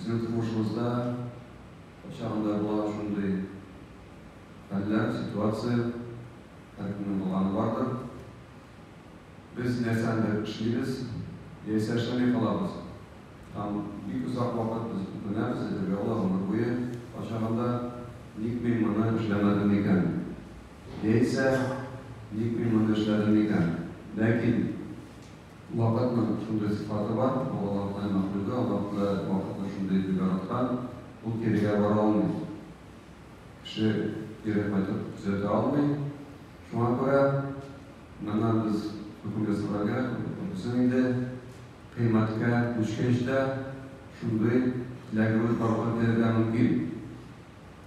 Безнең тормышыбызда кайчагында була шундый хәлләр, ситуация, һәркемнең булганы бардыр. Без нәрсәнедер эшлибез, яисә эшләми калабыз һәм бик озак вакыт без үкенәбез, әйтергә була, гомер буе, кайчагында, Ник мин моны эшләмәдем микән? Яисә, Ник мин моны эшләдем микән? Ләкин. Вакытның шундый сыйфаты бар, бу Аллаһ Худай мәхлугы, Аллаһ Худай вакытны шундый итеп яраткан, ул кирегә бара алмый. Кеше кире кайтып төзәтә алмый. Шуңа күрә моннан без хөкем ясарга кирәк, күрдесең инде, кыйммәткә күчкәч тә шундый теләгебез барлыкка килергә мөмкин.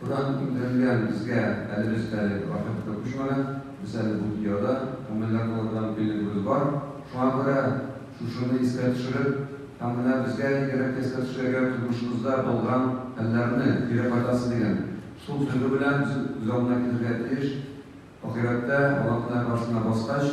Куран иңдерелгән безгә әле без әле вакыт күп шманы, без әле бу дөньяда күңелләр булырдан билегебез бар. Шуңа күрә шушыны искә төшереп, һәм менә безгә игерәк искә төшерергә тормышыбызда булган хәлләрне, кире кайтасы дигән шул тойгы белән без күз алдына китерергә тиеш. Ахирәттә, Аллаһ менә каршына баскач,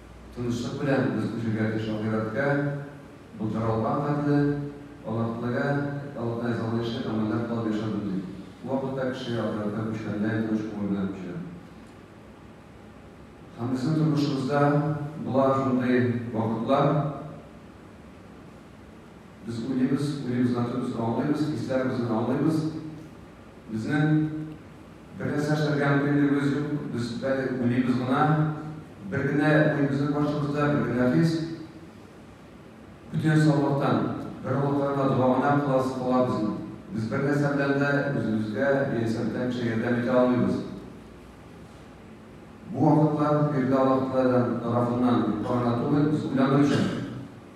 Тынычлык белән без күчергә тиеш ахирәткә, былтыралган хәтле Аллаһ теләгә, Аллаһ ризалыгынча гамәлләр кылып яшәдем дип. Бу вакытта кеше ахирәткә күчкәндәй тыныч күңел белән күчә. Һәм безнең тормышыбызда була шундый вакытлар, без уйлыйбыз, уйлыйбыз, аңлыйбыз, хисләребезне аңлыйбыз, безнең. Бераз яшәргә мөмкинлегебез юк, без әле уйлыйбыз гына. Бер генә уй безнең башыбызда, бер генә хис. Бөтен саулыктан, бер Аллага гына дога гына кыласыз кылабызмы? Без бер нәрсә белән дә үзебезгә яисә бүтән кешегә ярдәм итә алмыйбыз. Бу вакытлар, биредә Аллаһы Тәгалә тарафыннан юкка гына түгел, без уйлану өчен.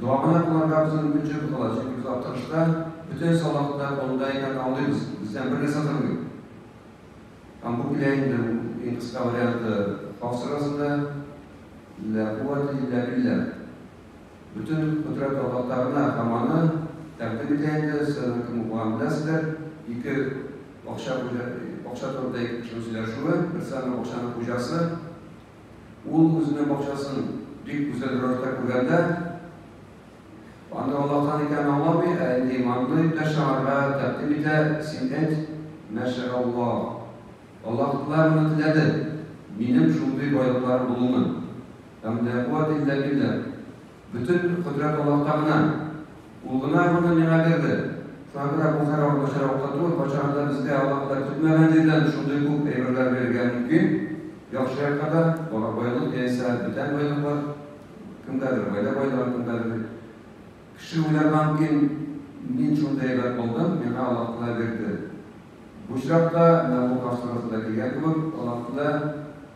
Дога гына кылырга безнең бөтен җир кала, чөнки без Актырышта бөтен сабакта монда икән аңлыйбыз, бездән бер нәрсә тормый. Һәм бу килә инде иң кыска варианты халык сырасында, Лә куәтә илля билля. Бөтен кодрәт Аллаһта гына һәм аны тәкъдим итә инде, сез аның кем булганын беләсездер, ике акча хуҗа, акча турында ике кешенең сөйләшүе, берсе аның акчаның хуҗасы, Ул үзенең бакчасын бик гүзәл рәвештә күргәндә, аны Аллаһтан икәнен аңламый, ә инде иманлы иптәш аңарга тәкъдим итә, Син әйт, Мәшәаллаһ, Аллаһ Тәгалә моны теләде, минем шундый байлыкларым булуны. Һәм ләкуәтә илля билләһ. Бөтен кодрәт Аллаһта гына. Ул гына моны миңа бирде. Шуңа күрә бу хәраб хәраб та түгел, кайчан да безгә Аллаһ Тәгалә көтмәгән җирдән шундый күп әйберләр бирергә мөмкин. Яхшы якка да, бара байлык яисә бүтән байлыклар, кемгәдер гаилә байлыгы, кемгәдер Кеше уйларга мөмкин, мин шундый әйбер алдым, миңа Аллаһ Тәгалә бирде. Бу очракта менә бу каршыгызда килгән кебек, Аллаһ Тәгалә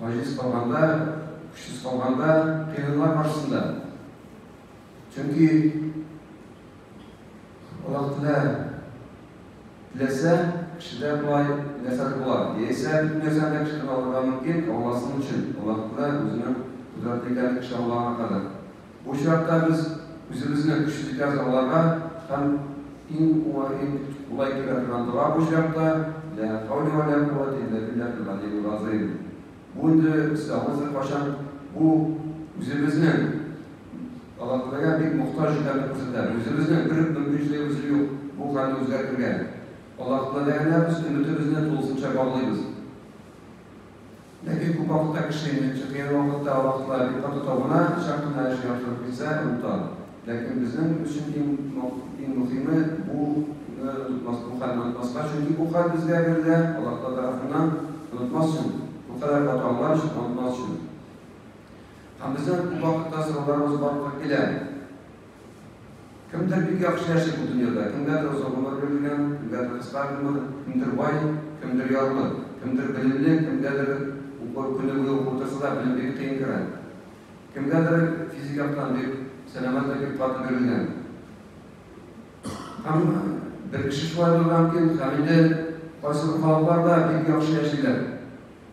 Гаҗиз калганда, көчсез калганда, кыенлар каршысында. Чөнки Аллаһ Тәгалә теләсә, кешедә болай нәрсәләр була. Яисә бөтен нәрсәне кешедән алырга мөмкин, Аллаһ өчен. Аллаһ Тәгалә үзенең кудрәтле икәнлеген кеше аңлаган кадәр. Бу чакта без үзебезне көчле җәзаларга һәм иң уңай, иң кулай килә торган дога бу чакта, Лә хәүлә вә лә куәтә илля биллаһил галиил газыйм. Бу инде исламыбызда кайчан бу үзебезнең Аллаһтәгаләгә бик мохтаҗ икәнне күрсәтә. Үзебезнең бер мөмкинчелегебез юк бу хәлне үзгәртергә. Аллаһтәгаләгә без өметебезне тулысынча баглыйбыз. Ләкин күп вакытта кеше инде чыккан вакытта вакытлар бик каты табына, чак кына эш яхшырып китсә, оныта. Ләкин безнең өчен иң мөхиме, буны онытмас, бу хәлне онытмаска, чөнки бу хәл безгә бирелә Аллаһтаала тарафыннан, онытмас өчен, бу кадәр каты аңлар өчен, онытмас өчен. Һәм безнең күп вакытта сорауларыбыз барлыкка килә. Кемдер бик яхшы яши бу дөньяда, кемгәдер озын гомер бирелгән, кемгәдер кыска гомер, кемдер бай, кемдер ярлы, кемдер белемле, кемгәдер уку көне буе укып утырса да, белем бик кыен керә. Кемгәдер физик яктан бик сәламәтлек, бик каты бирелгән. Һәм бер кеше шулай булырга мөмкин, һәм инде кайсы халыкларда бик яхшы яшиләр.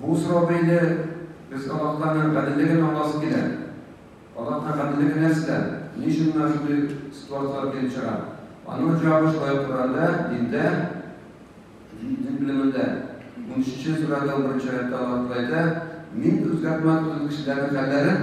Бу сорау бәйле, без Аллаһтаны гаделлеген аңласы килә. Аллаһның гаделлеге нәрсә? Ни өчен менә шундый ситуацияләр килеп чыга? Аның җавабы шулай ук Коръәндә, диндә, дин белемендә. Унөченче сүрәдә унберенче аятта Аллаһ Тәгалә әйтә, Мин үзгәртмәм төзек кешеләрнең хәлләрен,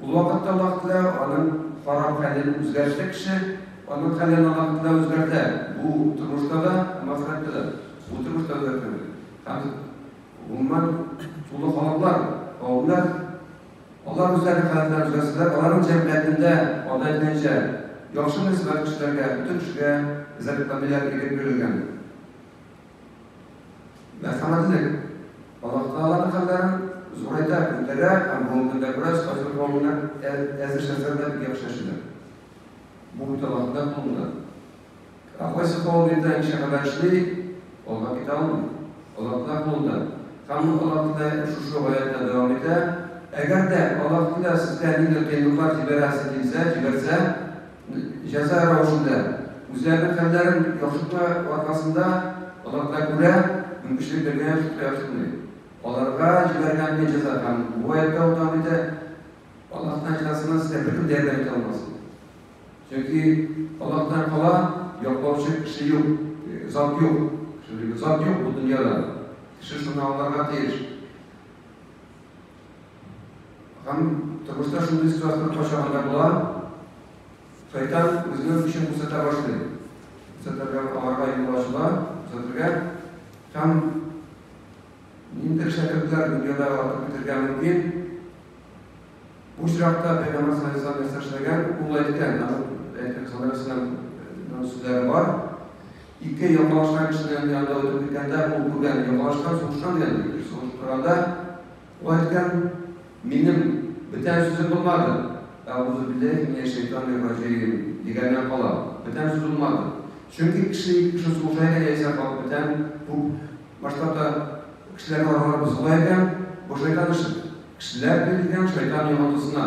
Ул вакытта аллаһ теләү аның харам хәлен үзгәрешле кеше аның хәлен аллаһ теләү үзгәртә. Бу тормышта да, һәм ахирәттә дә. Бу тормышта үзгәртә. Һәм гомумән тулы халыклар, кавемнәр алар үзләренең хәлләрен үзгәртсәләр, аларның җәмгыятендә ада әйтелгәнчә яхшы мөнәсәбәт кешеләргә, бөтен кешегә, эзәрлекләмиләр, ирек бирелгән. Мәрхәмәтлек. Аллаһ Тәгаләнең хәлләрен зурайта, күтәрә һәм бүгенге көндә бераз фазил гомумиләр әзер шәхесләр белән бик яхшы яшиләр. Бу бит Аллаһның кулында. Ә кайсы кавым инде ничә хәбәр эшли, алга китә алмый. Аллаһның кулында. Һәм Аллаһ Тәгалә шушы гаятта дәвам итә, Әгәр дә Аллаһ Тәгалә сезгә нидер кыенлыклар җибәрәсе килсә, җибәрсә, җәза рәвешендә үзләренең хәлләрен яхшырту аркасында аларга күрә мөмкинчелек биргән шулкыяшуны аларга җибәргән бу җәза һәм бу гаепкә утан бите Аллаһтан җәзасына сезгә беркем дә ярдәм итә алмасын. Чөнки Аллаһтан кала яклаучы кеше юк, зат юк. Шундый зат юк бу дөньяда. Кеше шуны аңларга тиеш. Һәм тормышта шундый ситуация кайчагында да була, шайтан үзенең көчен күрсәтә башлый. Күрсәтергә аларга юл ачыла, күрсәтергә һәм ниндидер шәкертләр дөньяда атып бетергә мөмкин. Бу очракта Пәйгамбер саллаллаһу алейһи ва саллям нәрсә эшләгән? Ул әйткән, аның әйткән хәбәреннән сүзләре бар. Ике яңалышкан кешенең янында үтеп киткәндә, ул күргән яңалышкан, сугышкан дигән ди. Бер сугышып торганда, ул әйткән, Минем бетән сүзем булмады. Әгузубилләһи минәшшәйтанир-раҗиим, дигәннән кала, бетән сүз булмады. Чөнки кеше ике кеше сугыша икән, яисә халык бетән, күп масштабта кешеләрне аралап суга икән, бу шайтан эше. Кешеләр бетен икән, шайтан йогынтысына.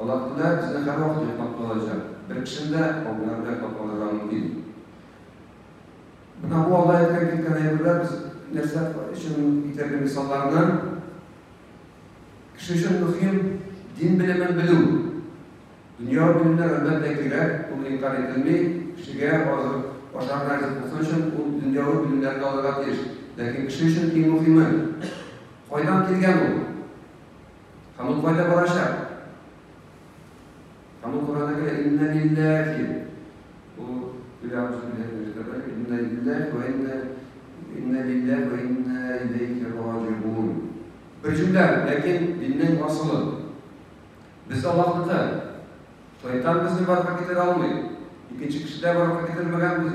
Алар көлә, безне һәрвакыт йоклап калачак. Бер кешене дә каберләрдә йоклап калырга мөмкин. Менә бу алда әйткән киткән әйберләр без нәрсә өчен китерде мисалларны? Кеше өчен мөһим дин белемен белү. Дөнья белемнәр әлбәттә кирәк, ул инкар ителми. Кешегә азык ашар нәрсә булсын өчен ул дөньяви белемнәрне алырга тиеш. Ләкин кеше өчен иң мөһиме кайдан килгән ул? Һәм ул кайда барачак? Һәм ул Коранда кирәк, инна лилләхи. Бу Илам сүзләр мөҗтәбә, инна лилләхи вә инна инна лилләхи вә инна иләйхи раҗигун. Бер җөмлә, ләкин диннең асылы. Без Аллаһныкы. Шайтан безне барып китерә алмый. Икенче кешедә барып китермәгән без.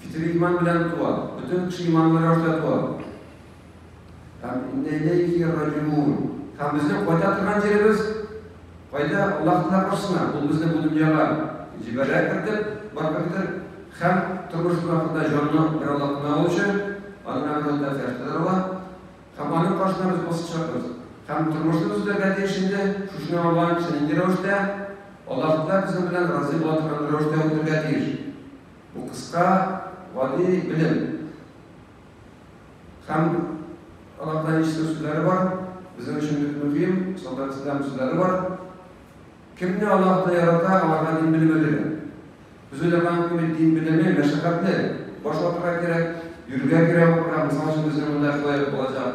Фитиле иман белән туа. Бөтен кеше иманлы рәвештә туа. Һәм иннә иләйһи раҗиун. Һәм безнең кайта торган җиребез кайда? Аллаһ Тәгалә каршысына. Ул безне бу дөньяга җибәрә кертеп, барып кертер. Һәм тормышыбыз ахырында җанны бер Аллаһ кына алучы, аның әмерендә фәрештәләр ала. Һәм аның каршына без басачакбыз. Һәм тормышны без үтәргә тиеш инде. Шушыны аңлаган кеше нинди рәвештә? Аллаһ Тәгалә безнең белән разый була торган рәвештә үтәргә тиеш. Бу кыска гади белем. Һәм аларда ничә сүзләре бар, безнең өчен бик мөһим, солдат ислам сүзләре бар. Кемне Аллаһ та ярата, аларга дин белеме бирә. Без уйлаган кеби дин белеме мәшәкатьле, баш ватырга кирәк, йөрергә кирәк укырга, мисал өчен безнең монда шулай булачак.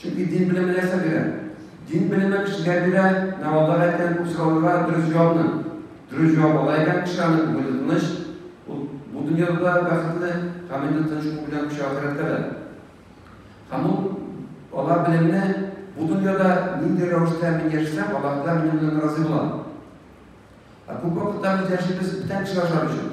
Чөнки дин белеме нәрсә бирә? Дин белеме кешегә бирә, Наваллар әйткән бу сорауларга дөрес җавапны. Дөрес җавап ала икән, кеше аны күңеле тыныч, ул бу дөньяда да бәхетле, һәм инде тыныч күңел белән күчә ахирәткә дә. Һәм ул ала белемне, бу дөньяда нинди рәвештә мин яшәсәм, Аллаһ Тәгалә минем белән разый була. Ә күп вакытта без яшибез бүтән кеше ашар өчен.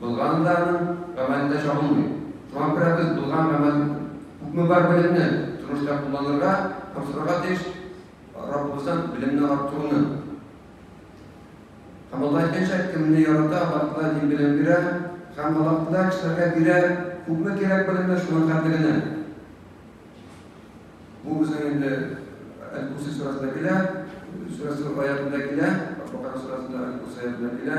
Булганы да аның гамәленә чагылмый. Шуңа күрә без булган гамәл күпме бар белемне тормышта кулланырга, тапшырырга тиеш Раббыбыздан белемне арттыруны. Һәм Алла әйткәнчә, кемне ярата, Аллаһ Тәгалә дин белеме бирә, һәм Аллаһ Тәгалә кешеләргә бирә күпме кирәк белемне, шуның кадеренә. Бу безнең инде Әл-Курси сүрәсендә килә, сүрәсе аятында килә, Бакара сүрәсендә Әл-Курси аятында килә.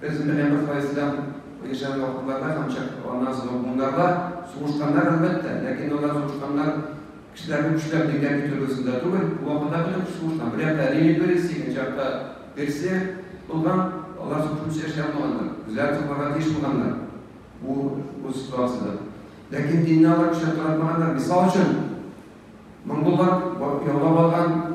Без менә бер кайсыдан яшәгән вакытларда һәм чак, аннан соң буыннарда сугышканнар, әлбәттә, ләкин алар сугышканнар кешеләрне көчләп дигән төрлесендә түгел, бу вакытта бөтен кеше сугышкан. Бер якта Римия империясе, икенче якта Персия булган, алар сугышучы эшли алмаганнар, үзләре тупларга тиеш булганнар бу, бу ситуациядә. Ләкин динне алар көчләп таратмаганнар. Мисал өчен, монголлар яулап алган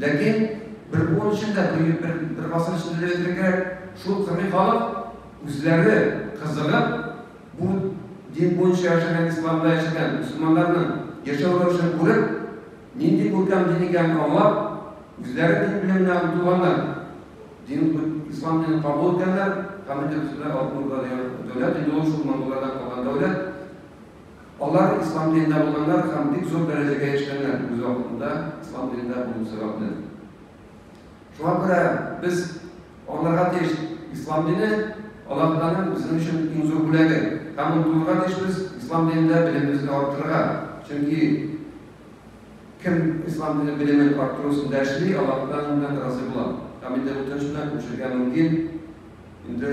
Ләкин бер буын өчен дә, бер гасыр өчен дә әйтергә кирәк, шул кыргый халык үзләре кызыгып, бу дин буенча яшәгән, исламда яшәгән мөселманнарның яшәү рәвешен күреп, нинди күркәм дин икәнен аңлап, үзләре дин белеменә омтылганнар, дин, ислам динен кабул иткәннәр һәм инде бөтенләй алтын урда дигән дәүләт, инде ул шул монголлардан калган дәүләт, Алар ислам динендә булганнар һәм бик зур дәрәҗәгә яшьләнгән, үз вакытында ислам динендә булу сәбәпле. Шуңа күрә без аңларга тиеш, ислам дине Аллаһтаның безнең өчен иң зур бүләге. Һәм ул булырга тиешбез, ислам динендә белемебезне арттырырга. Чөнки кем ислам дине белемен арттыру өстендә эшли, Аллаһтан разый була. Һәм инде бу төшенчәне күчергә мөмкин. Инде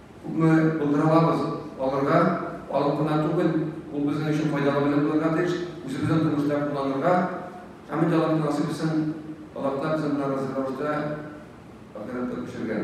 Күпме булдыра алабыз, алырга, алып кына түгел, ул безнең өчен файдалы белем булырга тиеш, үзебезнең тормышта кулланырга. Хәмит Аллаһ насыйп итсен, Аллаһ Тәгалә безне моңа разый рәвештә ахирәткә күчергән.